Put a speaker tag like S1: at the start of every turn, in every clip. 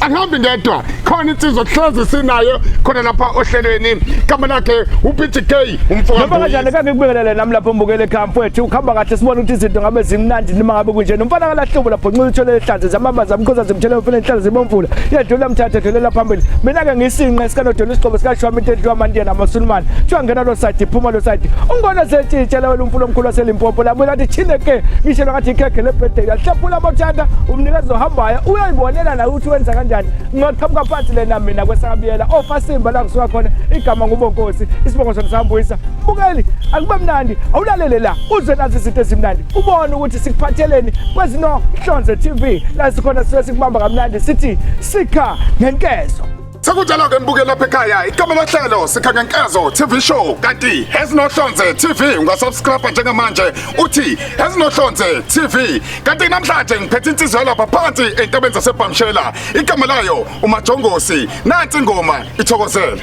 S1: angihambi ngedwa khona insizwa kuhlezi sinayo khona lapha ohlelweni igama lakhe uPTK umfoka Noma kanjani kange kubingelele
S2: nami lapho mbukele ekhaya ukhamba kahle sibona ukuthi izinto ngabe zimnandi noma ngabe kunje nomfana kalahlobo lapho nxuza uthole ehlanze zamabaza amkhoza zimthele umfana enhlalo zibomvula yedlula mthathe dlulela phambili mina ke ngisinqe sikanodola isiqobo sikashwami into edliwa amandiya namasulumane kuthiwa ngena lo side phuma lo side ungona setshitshela wena umfula omkhulu waselimpopo labuye lathi chine ke ngishelwa ngathi ikhekhe lebhedela hlephula amathanda umnikezi ohambayo Ayibonela la ukuthi wenza kanjani ngaqhamuka phansi lena mina kwesakabiyela ofasimba la ngisuka khona igama ngubonkosi isibongo sona sambuyisa bukeli akube mnandi awulalele la uze nazi izinto ezimnandi ubone ukuthi sikuphatheleni kwezinohlonze TV la sikhona sibe sikubamba kamnandi sithi sikha ngenkezo Sekunjalo-ke
S1: nibukele lapha ekhaya igama lohlelo sikhangenkezo TV show kanti ezinohlonze TV ungasubscribe njengamanje uthi ezinohlonze TV kanti namhlanje ngiphethe insizwa yalapha phansi entabeni zasebhamshela igama layo umajongosi nansi ingoma ithokozele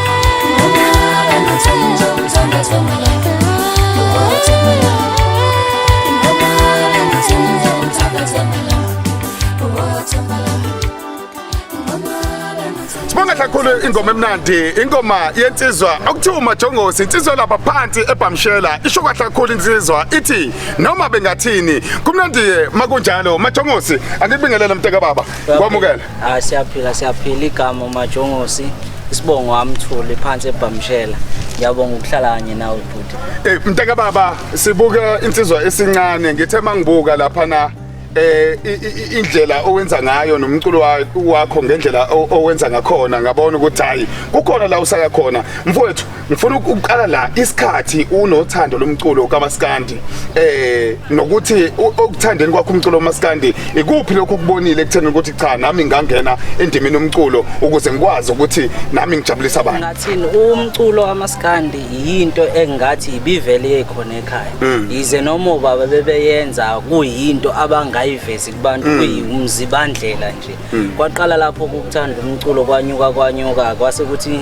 S1: kakhulu ingoma emnandi ingoma yensizwa okuthiwa umajongosi insizwa lapha phansi ebhamshela isho kahle kakhulu insizwa ithi noma bengathini kumnandi makunjalo majongosi angikubingelele mnteka baba kwamukela Ah siyaphila siyaphila
S3: igama uMajongosi isibongo amthuli phansi ebhamshela ngiyabonga ukuhlala kanye nawe bhuti Eh mntaka baba
S1: sibuka insizwa esincane ngithe mangibuka lapha na eh i- i- i- indlela owenza ngayo nomculo wa- wakho ngendlela o- owenza ngakhona ngabona ukuthi hayi kukhona la usaka khona mfowethu ngifuna ukuqala la isikhathi unothando lomculo kamaskandi eh nokuthi okuthandeni kwakho umculo kamaskandi ikuphi lokho kubonile ekutheni ukuthi cha nami ngangena endimini umculo ukuze ngikwazi ukuthi nami ngijabulisa abantu ngathini umculo
S3: kamaskandi yinto engathi ibivele ekhona ekhaya mm. yize noma baba bebeyenza kuyinto abangayivezi kubantu mm. kuyimzibandlela nje mm. kwaqala lapho ukuthanda umculo kwanyuka kwanyuka kwase kuthi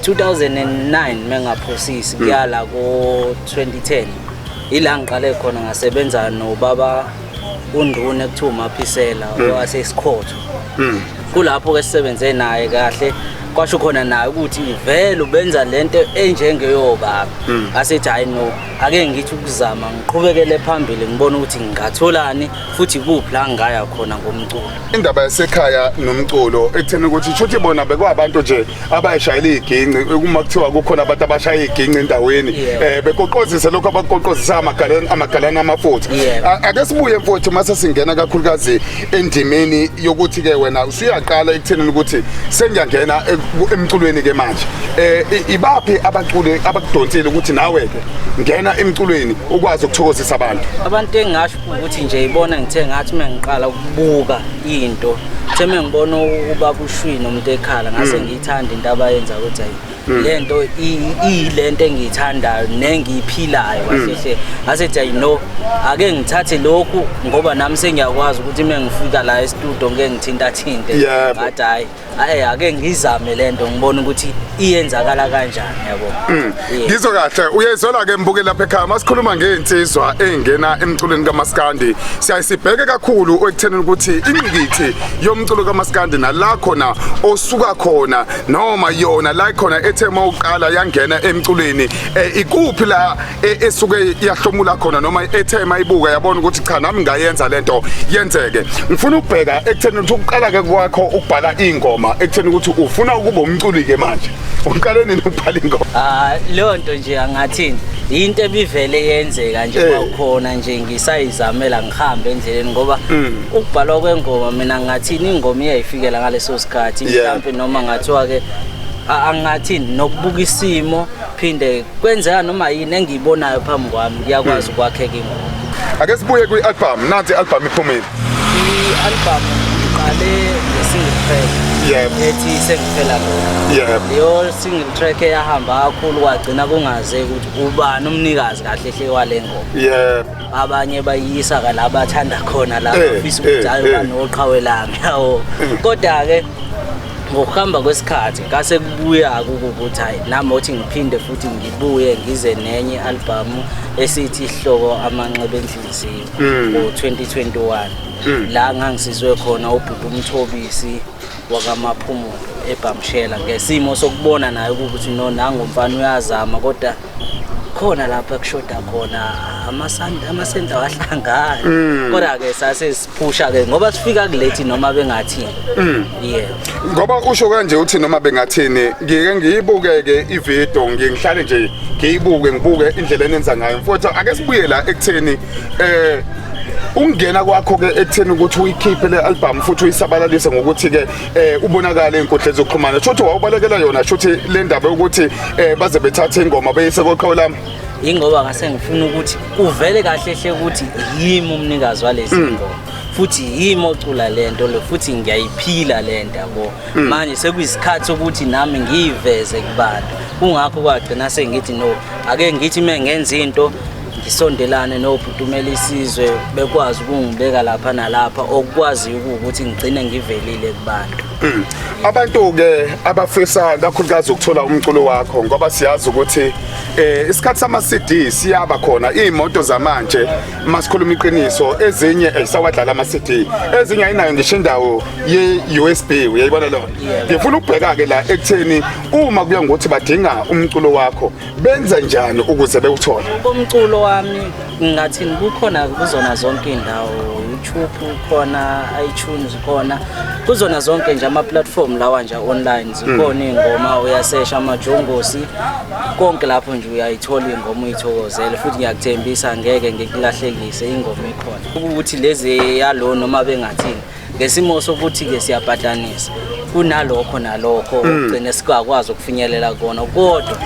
S3: 2009 mengaphosisi hmm. kuyala ko 2010 ila ngiqale khona ngasebenza nobaba unduna ekuthiwa umaphisela hmm. owasesikhotho hmm. kulapho ke sisebenze naye kahle kwasho khona naye ukuthi vele ubenza lento enjengeyobaba hmm. asethi hayi no ake ngithi ukuzama ngiqhubekele phambili ngibona ukuthi ngingatholani futhi kuphi la ngaya khona ngomculo indaba yasekhaya
S1: nomculo ekutheni ukuthi shuthi bona bekwabantu nje abayishayela iginci uma kuthiwa kukhona abantu abashaya iginci endaweni eh bekoqozisa lokho abakoqozisa amagalana amagalana amafutha ake sibuye mfowethu uma sesingena kakhulukazi endimeni yokuthi ke wena usuyaqala ekutheni ukuthi sengiyangena emculweni ke manje eh ibaphi abaculi abakudonsile ukuthi nawe ke ngena emculweni ukwazi ukuthokozisa abantu abantu engasho
S3: ukuthi nje ibona ngithe ngathi uma ngiqala ukubuka into kuthe uma ngibona ukuba kushwi nomuntu ekhala ngase mm. ngiyithanda into abayenza ukuthi ayi mm. le nto iyile nto engiyithandayo nengiyiphilayo kahle mm. ngase kuthi ayi no ake ngithathe lokhu ngoba nami sengiyakwazi ukuthi uma ngifika la estudio ngeke ngithintathinte ngathi hhayi Ayi ake ngizame lento ngibona ukuthi iyenzakala kanjani yabo. Mm. Yeah. Ngizwe kahle
S1: uyezwela ke mbuke lapha ekhaya masikhuluma ngeinsizwa engena emculweni kaMaskandi siyayisibheke kakhulu ekutheni ukuthi ingqikithi yomculo kaMaskandi nala khona osuka khona noma yona la khona ethe mawuqala yangena emculweni eh, ikuphi la e, esuke yahlomula khona noma ethe mayibuka yabona ukuthi cha nami ngayenza lento yenzeke ngifuna ukubheka ekutheni ukuthi ukuqala ke kwakho ukubhala ingoma ekutheni ukuthi ufuna ukuba umculi ke manje uqale nini ukubhala ingoma ah leyo nto nje
S3: angathini into ebivele yenzeka nje eh. kwakhona nje ngisayizamela ngihambe endleleni ngoba mm. ukubhalwa kwengoma mina ngathini ingoma iyayifikela ngaleso sikhathi mhlawumbe noma ngathiwa ke angathi nokubuka isimo phinde kwenzeka noma yini engiyibonayo phambi kwami ngiyakwazi hmm. ukwakheka ingoma ake sibuye
S1: kwi-albhamu nansi i-albhamu iphumile i-albhamu
S3: ngiqale ngesingle track yep. ethi sengiphela yep. leyo single track eyahamba kakhulu kwagcina kungaze ukuthi ubani umnikazi kahle hle wale ngoma yep. abanye bayiyisa ka la bathanda khona la eh, bafisa ukuthi eh, ayo eh. banoqhawe lami yawo kodwa-ke ngokuhamba kwesikhathi ngase kubuya ukuthi hayi nami othi ngiphinde futhi ngibuye ngize nenye albhamu esithi ihloko amanxeba enhliziyo mm. ngo-2021 mm. la ngangisizwe khona ubhuti umthobisi wakamaphumulo ebhamshela ngesimo sokubona naye ukuthi no nangomfana uyazama kodwa khona lapha kushoda khona amasenta wahlangana mm. kodwa ke sase siphusha ke ngoba sifika kulethi noma bengathini mm. yeah
S1: ngoba usho kanje uthi noma bengathini ngike ngiyibuke ke ivideo ngiye ngihlale nje ngiyibuke ngibuke indlela enenza ngayo mfowethu ake sibuye la ekutheni eh ukungena kwakho ke ekutheni ukuthi uyikhiphe le album futhi uyisabalalise ngokuthi ke eh ubonakala enkundla zokuxhumana shothi wawubalekela yona shothi le ndaba yokuthi eh baze bethathe ingoma beyise koqhawe lami ingoba ngase
S3: ngifuna ukuthi kuvele kahle hle ukuthi yimi umnikazi walezi mm. ngoma futhi yimi ocula lento lo futhi ngiyayiphila lento yabo mm. manje sekuyisikhathi ukuthi nami ngiyiveze kubantu kungakho kwagcina sengithi no ake ngithi mengenza into ngisondelane nobhuti umele isizwe bekwazi ukungibeka lapha nalapha okukwaziyo ukuthi ngigcine ngivelile kubantu hmm. abantu-ke
S1: abafisa kakhulukazi ukuthola umculo wakho ngoba siyazi ukuthi um isikhathi sama-cd siyaba khona iy'moto zamanje uma sikhuluma iqiniso ezinye ezisawadlala ama-cd ezinye ayinayo ngisho indawo ye-u s b uyayibona lona ngifuna ukubheka-ke la ekutheni uma kuya ngokuthi badinga umculo wakho benze njani ukuze bewuthole komculo wami
S3: ngathi kukhona kuzona zonke indawo YouTube khona iTunes khona kuzona zonke nje ama platform lawa nje online zikhona ingoma uyasesha amajongosi konke lapho nje uyayithola ingoma uyithokozele futhi ngiyakuthembisa ngeke ngikulahlekise ingoma ikhona ukuthi lezi yalo noma bengathini ngesimo sokuthi-ke siyapatanisa kunalokho nalokho okugcine singakwazi ukufinyelela kona kodwa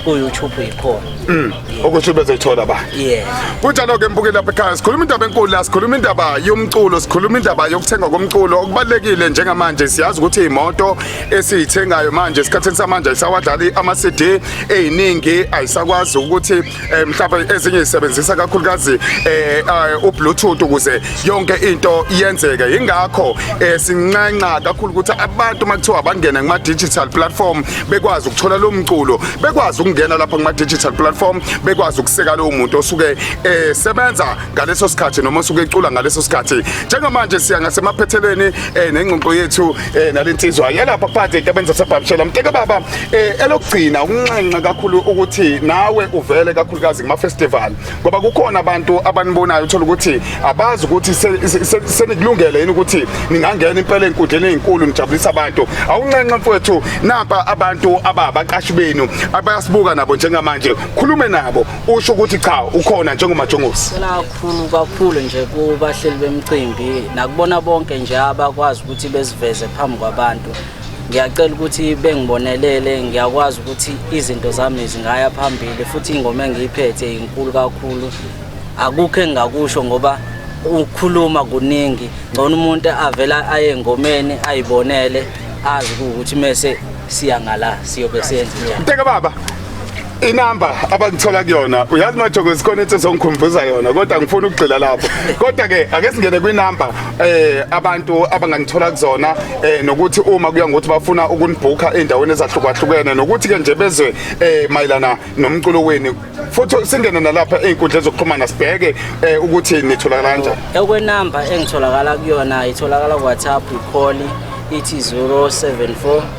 S3: ku-youtube yikhona Mm. ukuthi bezoyithola
S1: ba yeah kunjalo-ke mbukeli lapha ekhaya sikhuluma indaba enkulu la sikhuluma indaba yomculo sikhuluma indaba yokuthengwa komculo okubalulekile njengamanje siyazi ukuthi iy'moto esiyithengayo manje esikhathini samanje ayisawadlali ama-cd ey'ningi ayisakwazi ukuthi eh mhlawumbe ezinye isebenzisa kakhulukazi eh, eh ubluetooth ukuze yonke into iyenzeke ingakho eh, sinxenxa kakhulu ukuthi abantu makuthiwa bangena kuma digital platform bekwazi ukuthola lo mculo bekwazi ukungena lapha kuma digital platform bekwazi ukuseka lo muntu osuke esebenza eh, ngaleso sikhathi noma osuke ecula ngaleso sikhathi njengamanje siya ngasemaphethelweni nengxoxo yethu eh nalensizwa yalapha phansi entabeni zasebhamshela mteke baba eh elokugcina ukunxenxa kakhulu ukuthi nawe uvele kakhulukazi kuma festival ngoba kukhona abantu abanibonayo uthola ukuthi abazi ukuthi senikulungele yini ukuthi ningangena impela enkundleni ezinkulu nijabulisa abantu awunxenxa mfowethu nampa abantu ababaqashi benu abayasibuka nabo njengamanje khulume nabo usho ukuthi cha ukhona njengomajongosi Khulu kakhulu
S3: nje kubahleli bemcimbi nakubona bonke nje abakwazi ukuthi beziveze phambi kwabantu ngiyacela ukuthi bengibonelele ngiyakwazi ukuthi izinto zami zingaya phambili futhi ingoma engiyiphethe inkulu kakhulu akukho engingakusho ngoba ukukhuluma kuningi ngcono umuntu avela aye engomeni ayibonele azi ukuthi mese siya ngala siyobe senza njani mteke baba
S1: inamba abangithola kuyona uyazi majokosi khona into ezongikhumbuza yona kodwa ngifuna ukugxila lapho kodwa ke ake singene kwinamba eh abantu abangangithola kuzona eh nokuthi uma kuya ngokuthi bafuna ukunibhukha endaweni ezahlukahlukene nokuthi ke nje bezwe eh mayelana nomculo wenu futhi singene nalapha einkundla zokuxhumana sibheke eh ukuthi nitholakala kanjani ekwenamba
S3: engitholakala kuyona itholakala ku WhatsApp ikholi ithi 074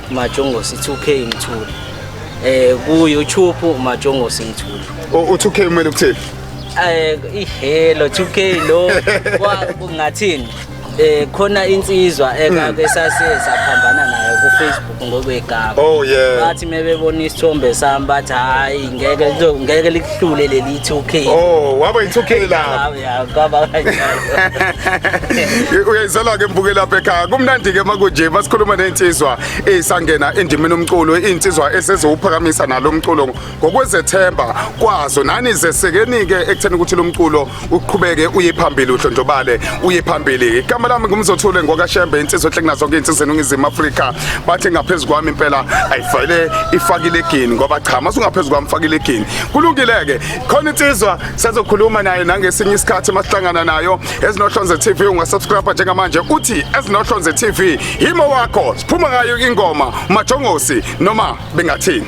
S3: Majongosi 2K Mthuli eh ku YouTube Majongosi Mthuli u 2K kumele
S1: ukuthini eh
S3: ihelo 2K lo kungathini eh khona insizwa ekake hmm. sase saphambana nayo ku Facebook ngokwegama oh yeah bathi
S1: mebebona
S3: isithombe sami bathi hayi ngeke ngeke likuhlule leli 2K oh waba i 2K
S1: lapho
S3: Ya kwaba kanjalo. uyayizela
S1: ke mbuke lapha ekhaya kumnandi ke makunje basikhuluma nensizwa esangena endimini umculo insizwa esezowuphakamisa nalo mculo ngokwezethemba kwazo nani zesekeni ke ekutheni ukuthi lo mculo uqhubeke uye phambili udlondlobale uye phambili igama lami ngumzothule ngokashembe insizwa ehle kunazo zonke insizwa eningizimu Afrika bathi ngaphezu kwami impela ayifayile ifakile egini ngoba cha masungaphezulu kwami fakile egini kulungile ke khona insizwa Sazokhuluma naye nangesinye isikhathi masihlangana nayo ezinohlonze TV ungasubscribe njengamanje uthi ezinohlonze TV yimo wakho siphuma ngayo ingoma majongosi noma bengathini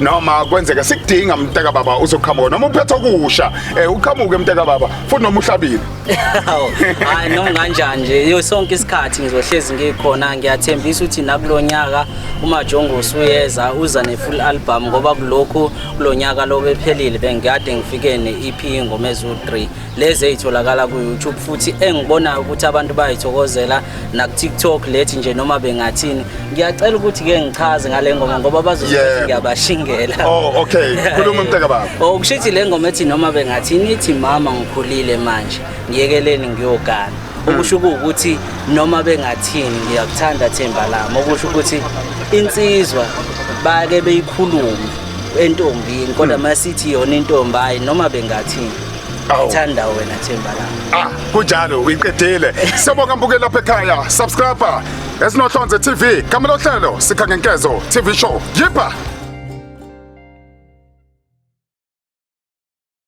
S1: noma kwenzeka sikudinga mntaka baba uzoqhamuka noma uphethe okusha eh uqhamuke mntaka baba futhi noma uhlabile
S3: hayi noma kanjani nje yo sonke isikhathi ngizohlezi ngikhona ngiyathembisa ukuthi nakulonyaka uma Jongo usuyeza uza ne full album ngoba kulokho kulonyaka lobephelile bengikade ngifike ne EP ngomezulu 3 lezi ezitholakala ku-youtube futhi engibonayo ukuthi abantu bayithokozela naku-tiktok lethi nje noma bengathini ngiyacela ukuthi-ke ngichaze ngale ngoma ngoba bazothi ngiyabashingela oh, okay
S1: khuluma mntaka baba oh, okusho ukuthi le ngoma ethi
S3: noma bengathini ithi mama ngikhulile manje ngiyekeleni ngiyogana hmm. okusho ukuthi noma bengathini ngiyakuthanda themba lami okusho ukuthi insizwa bake beyikhulume entombini kodwa hmm. masithi yona intombi hayi noma bengathini ngithanda wena themba lami ah kunjalo uyiqedile
S1: siyabonga mbuke lapha ekhaya subscriber esinohlonze tv kamela ohlelo sikha ngenkezo tv show yipha